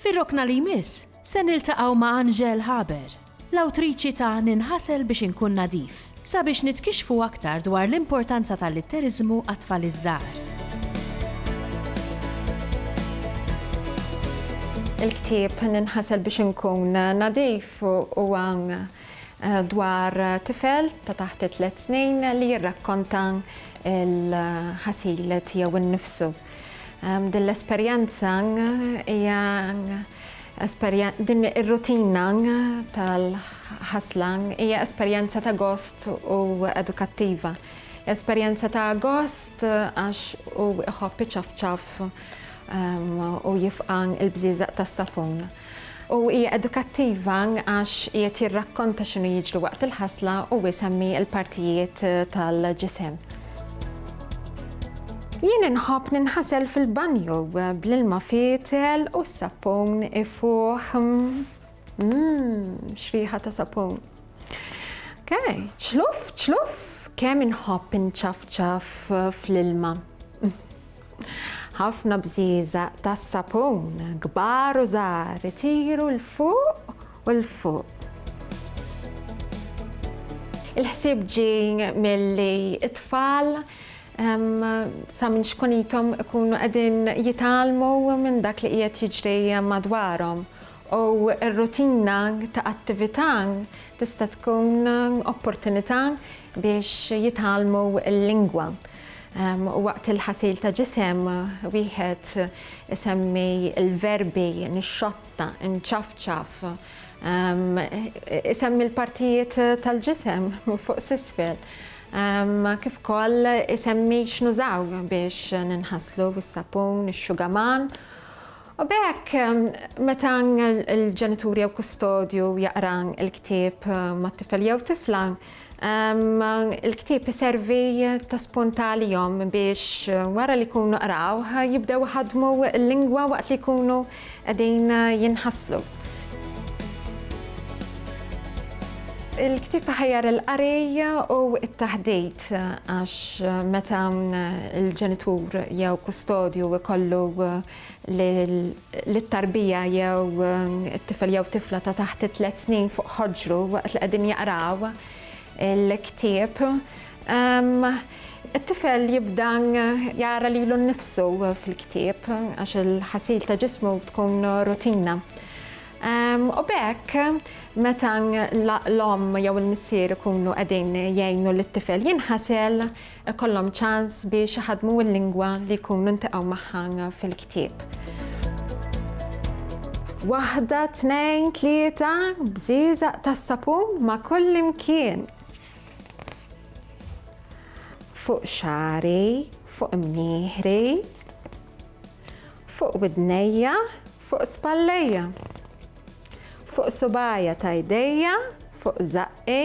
Fir-rokna li jmiss, se niltaqgħu ma' Angèle Haber, l-awtriċi ta' Ninħasel biex inkun nadif, sabiex nitkixxfu aktar dwar l-importanza tal-litteriżmu għat-tfal iż-żgħar. Il-ktieb Ninħasel biex inkun nadif huwa dwar tifel ta' taħt it-tliet snin li jirrakkonta l-ħasil tiegħu nnifsu. Din l-esperjenza hija din ir-rutina tal-ħasla hija esperjenza ta' gost u edukattiva. Esperjenza ta' gost għax u iħobb iċafċaf u jifqan il-bżieżaq tas-sapun. U hija edukattiva għax qiegħed jirrakkonta x'inhu jiġri waqt il-ħasla u jsemmi l-partijiet tal-ġisem. Jien inħobb ninħasel fil-banju bl-ilma fietel u s-sapun ifuħ. Mmm, xriħa ta' sapun. Okay, ċluf, ċluf, kemm inħobb inċafċaf fl-ilma. Ħafna bżieżaq tas-sapun, kbar u żgħar, itiru 'l fuq u 'l fuq. Il-ħsieb ġie milli t-tfal sa minn xkunithom ikunu qegħdin jitgħallmu minn dak li qiegħed jiġri madwarhom u r-rutina ta' attività tista' tkun opportunità biex jitgħallmu l-lingwa. Waqt il-ħasil ta' ġisem, wieħed isemmi l-verbi nixxotta, inċafċaf, isemmi l-partijiet tal-ġisem minn fuq s'isfel, kif ukoll isemmi x'nużaw biex ninħaslu, is-sapun, ix-xugaman U b'hekk, meta l-ġenitur jew kustodju jaqra l-ktieb mat-tifel jew tifla, il-ktieb iservi ta' spunt għalihom biex wara li jkunu qrawh jibdew iħaddmu l-lingwa waqt li jkunu qegħdin jinħaslu. Il-ktieb iħajjar il-qari u t-taħdit għax meta l-ġenitur jew kustodju jkollu li t-tarbija jew it-tifel jew tifla ta' taħt it-tliet snin fuq ħoġru waqt li qegħdin jaqraw il-ktieb. Ehm, it-tifel jibda jara lilu nnifsu fil-ktieb għax il-ħasil ta' ġismu tkun rutina. Ehm, u bekk, meta l-om jew il-missier ikunu qegħdin jgħinu lit-tifel jinħasel, ikollhom ċans biex iħaddmu l-lingwa li jkunu ltaqgħu magħha fil-ktieb. Waħda, tnejn, tlieta, bżieżaq tas-sapun ma' kullimkien. Fuq xari, fuq mnieħri, fuq widnejja, fuq spallejja. Fuq subajja ta' jdejja, fuq zaqqi,